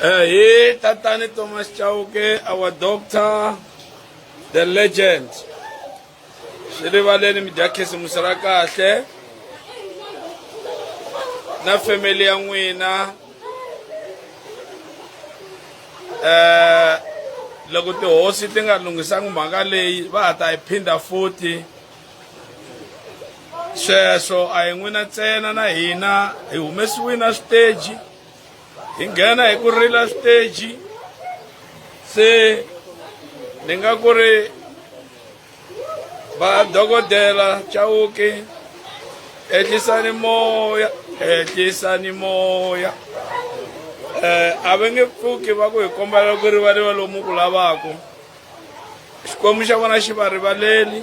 Hey, Tatani Thomas Chauke, our doctor, the legend. Shirivaleni Mjakesi Musarakashe. Na family ya n'wina. Eh, loko tihosi ti nga lunghisanga mhaka leyi va ha ta yi phinda futhi. sweswo a hi n'wina ntsena na hina hi humesiwile a switeji hi nghena hi ku rila switeji se ni nga ku ri va dokodela chawuki ehlisani moya ehlisani moya um a va nge pfuki va ku hi kombela ku rivaliwa lomu ku lavaka xikwembu xa vona xi va rivaleli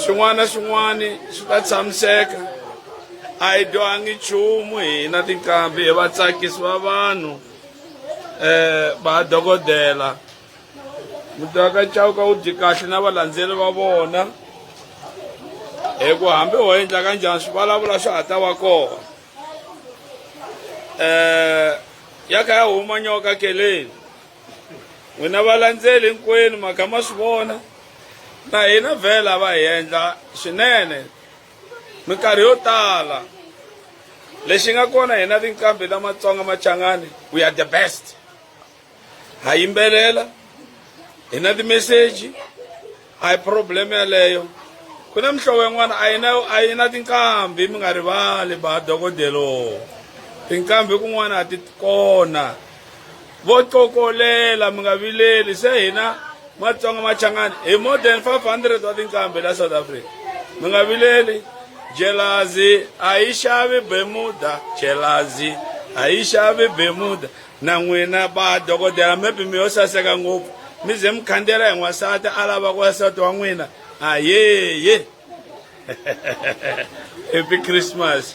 xin'wana na xin'wana swi ta tshamiseka a hi dyohangi nchumu hina tinkambi hi vatsakisi va vanhu um va dokodela mutaka chauka wu dyi kahle na valandzeli va vona hi ku hambi ho endla ka njhani swi vulavula swa ha ta va kona um ya kha ya huma nyoka keleni n'wina valandzeli hinkwenu mhaka ma swi vona na hina vhela va hi endla swinene minkarhi yo tala lexi nga kona hina tinqambi ta matsonga machangani we are the best ha yimbelela hi na timeseji A hi problem yaleyo. Ku na mihlovo yin'wana a yi na a yi na tinqambi mi nga rivali ba dokodelo. Tinqambi kun'wana a ti kona. Vo cokolela mi nga vileli se hina Matsonga Machangani hi more than 500 wa tinqambi la South Africa. Mi nga vileli jelazi a yi xavi bemuda jelazi a yi xavi bemuda Na n'wina ba dokodela maybe mi yo saseka ngopfu mi ze mi khandziyela hi n'wansati a lava ku nsati wa n'wina ayeye happy christmas